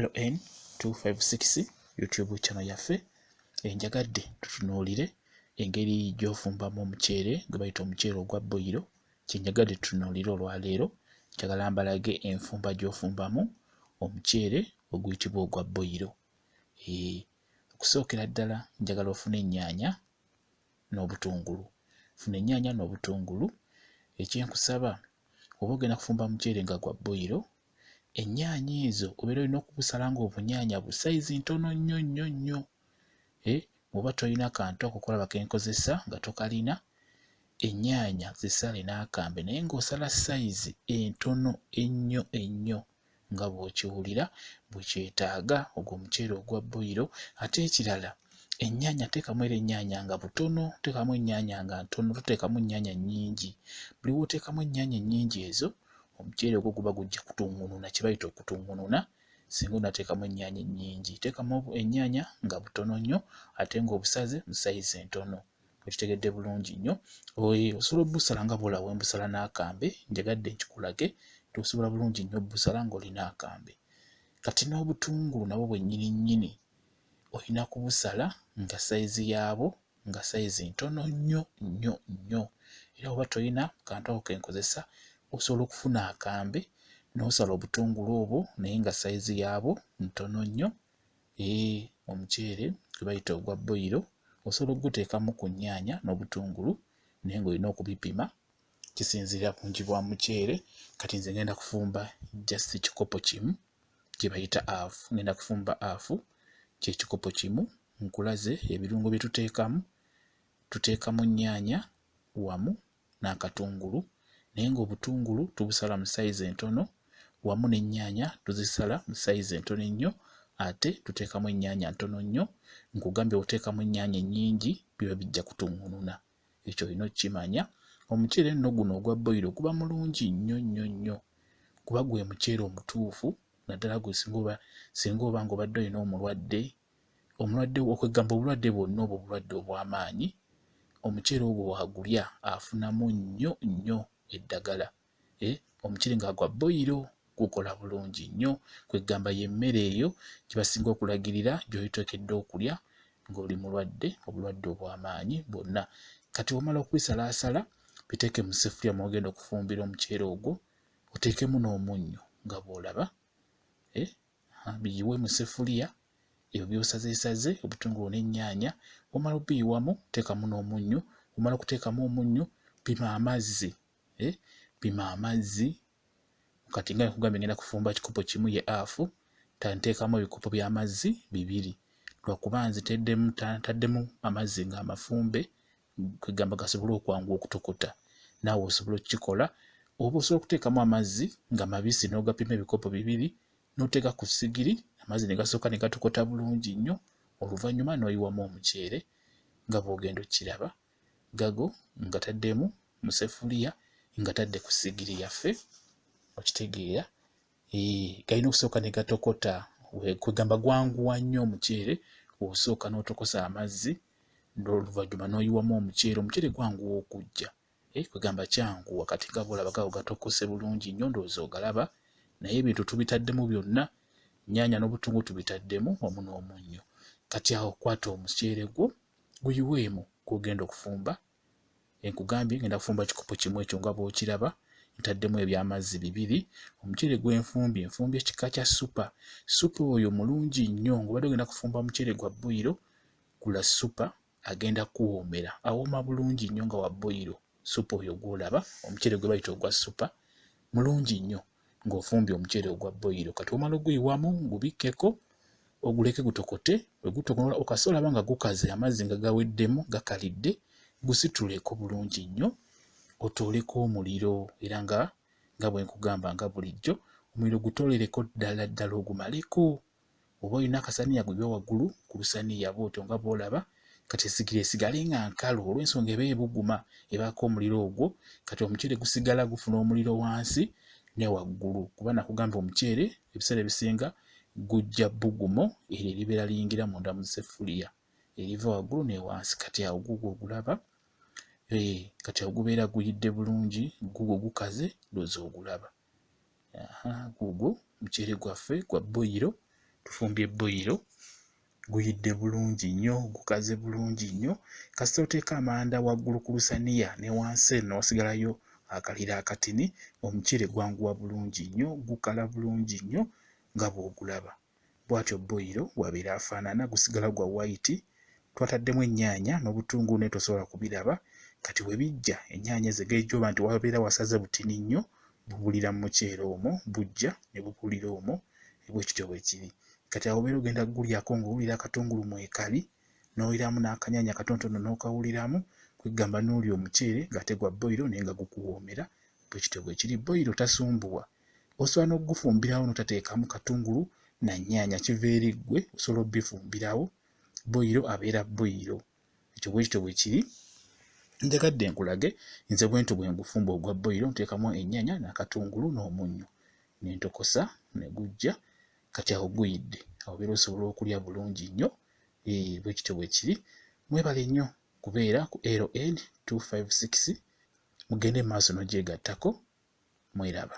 ln 256 youtube channel yaffe enjagadde tutunuulire engeri gy'ofumbamu omuceere gwe bayita omuceere ogwa boyiro kyenjagadde tutunuulire olwaleero njagala mbalage enfumba gy'ofumbamu omuceere oguyitibwa ogwa boyiro eh, okusookera ddala njagala ofune ennyaanya n'obutungulu funa ennyaanya n'obutungulu ekyenkusaba oba ogenda kufumba muceere nga gwa boyiro ennyaanya ezo obeera olina okubusala ng'obunyaanya bu sayizi ntono nnyo nnyo nnyo eh, bw'oba tolina kantu ako kolaba ke nkozesa nga tokalina ennyaanya zisale n'akambe naye ng'osala sayizi entono ennyo ennyo nga bw'okiwulira bwe kyetaaga ogwo omuceere ogwa boyiro ate ekirala ennyaanya teekamu era ennyaanya nga butono teekamu ennyaanya nga ntono toteekamu nnyaanya nnyingi buli w'oteekamu ennyaanya ennyingi ezo omuceere ogwo guba gujja kutungununa kibayita okutungununa singa onateekamu ennyaanya ennyingi teekamu ennyaanya nga butono nnyo ate ng'obusaze mu sayizi entono okitegedde bulungi nnyo osobola obusala nga bwolaba wembusala n'akambe njagadde nkikulage nti osobola bulungi nnyo obusala ng'olina akambe kati n'obutungulu nabwo bwennyini nnyini olina kubusala nga sayizi yaabwo nga sayizi ntono nnyo nnyo nnyo era oba tolina kantu ako ke nkozesa osobola okufuna akambe n'osala obutungulu obwo naye nga sayizi yaabwo ntono nnyo ee omuceere gwe bayita ogwa boyiro osobola okuguteekamu ku nnyaanya n'obutungulu naye ng'olina okubipima kisinziira bungi bwa muceere kati nze ngenda kufumba just kikopo kimu gye bayita aafu ngenda kufumba aafu kyekikopo kimu nkulaze ebirungo bye tuteekamu tuteekamu nnyaanya wamu n'akatungulu naye ng'obutungulu tubusala mu sayizi entono wamu n'ennyaanya tuzisala mu sayizi entono ennyo ate tuteekamu ennyaanya ntono nnyo nkugambye oteekamu ennyaanya ennyingi biba bijja kutuŋŋununa ekyo olina okukimanya omuceere nno guno ogwa boyiro guba mulungi nnyo nnyo nnyo kuba gwe muceere omutuufu naddala gwe singa oba nga obadde olina omulwadde omulwadde okwegamba obulwadde bwonna obwo obulwadde obw'amaanyi omuceere ogwo wagulya afunamu nnyo nnyo eddagala eh, omuceere nga gwa boyiro gukola bulungi nnyo kwegamba yemmere eyo gyebasinga okulagirira gyoyitokedde okulya ng'oli mulwadde obulwadde obw'amaanyi bwonna kati wamala okubisalaasala biteeke mu sefuliya mwogenda okufumbira omuceere ogwo oteekemu n'omunnyo nga bw'olaba eh, biyiwe mu sefuliya ebyo byosazeesaze obutungulu n'ennyaanya wamala obiyiwamu teekamu n'omunnyo wamala okuteekamu omunnyo pima amazzi eh, pima amazzi kati nga nkugambye ngenda kufumba kikopo kimu ye afu tanteekamu ebikopo by'amazzi bibiri lwakuba nziteddemu taddemu amazzi ng'amafumbe kwegamba gasobole okwangu okutokota naawe osobola okukikola oba osobola okuteekamu amazzi nga mabisi n'ogapima ebikopo bibiri n'oteeka ku sigiri amazzi ne gasooka ne gatokota bulungi nnyo oluvannyuma n'oyiwamu omuceere nga bw'ogenda okukiraba gago ngataddemu mu sefuliya ngatadde ku sigiri yaffe okitegeera eh, galina okusooka ne gatokota kwegamba gwanguwa nnyo omuceere osooka n'otokosa amazzi oluvannyuma n'oyiwamu omuceere omuceere gwanguwa okujja eh, kwegamba kyangu wakati nga boolaba gawo gatokose bulungi nnyo ndowooza ogalaba naye ebintu tubitaddemu byonna nnyanya n'obutungu tubitaddemu wamu n'omunnyo kati awo kwata omuceere gwo guyiweemu gwogenda okufumba enkugambye ngenda kufumba kikopo kimu ekyo nga bwokiraba ntaddemu ebyamazzi bibiri omuceere gwenfumbye nfumbye ekika kya supa supa oyo mulungi nnyo ngaobadde ogenda kufumba omuceere gwa boyiro gula supa agenda kuwoomera awooma bulungi nnyo nga wa boyiro supa oyo gwolaba omuceere gwe bayita ogwa supa mulungi nnyo ng'ofumbye omuceere ogwa boyiro kati omala oguyiwamu ngubikkeko oguleke gutokote bwe gutokola okasa olaba nga gukaze amazzi nga gaweddemu gakalidde gusituleko bulungi nnyo otooleko omuliro era nga nga bwe nkugamba nga bulijjo omuliro gutolereko ddala ddala ogumaleko oba olina akasaniya gwe waggulu ku lusaniya bwotyo nga bwolaba kati esigiri esigale nga nkalu olw'ensonga eba ebuguma ebaako omuliro ogwo kati omuceere gusigala gufuna omuliro wansi ne waggulu kuba nakugamba omuceere ebiseera ebisinga gujja bugumo eryo eribeera liyingira munda mu sefuliya eriva waggulu ne wansi kati awo gugwo ogulaba eh, kati awo gubeera guyidde bulungi gugwo gukaze lwoza ogulaba guugwo muceere gwaffe gwa boyiro tufumbye boyiro guyidde bulungi nnyo gukaze bulungi nnyo kasita oteeka amanda waggulu ku lusaniya ne wansi eno wasigalayo akalira akatini omuceere gwanguwa bulungi nnyo gukala bulungi nnyo nga bw'ogulaba bwatyo boyiro bwabeera afaanana gusigala gwa wayiti twataddemu ennyaanya n'obutungulu naye tosobola kubiraba kati bwe bijja ennyaanya ezo geejooba nti wabeera wasaze butini nnyo bubulira mu muceere omwo bujja ne bubulira omwo ebwekityo bwe kiri kati awo obeera ogenda kugulyako ng'owulira akatungulu mwekali n'owuliramu n'akanyaanya akatonotono n'okawuliramu kweggamba n'oli omuceere ng'ate gwa boyiro naye nga gukuwoomera bwekityo bwe kiri boyiro tasumbuwa osobola n'okugufumbirawo n'otateekamu katungulu na nnyaanya kiva eri ggwe osobola obifumbirawo boyiro abeera boyiro ekyo bwe kityo bwe kiri njagadde nkulage nze bwe ntyo bwe ngufumba ogwa boyiro nteekamu ennyaanya n'akatungulu n'omunnyo ne ntokosa ne gujja kati awo guyidde awo beera osobola okulya bulungi nnyo eh, bwe kityo bwe kiri mwebale nnyo kubeera ku ln 256 mugende maaso nogyegattako mweraba.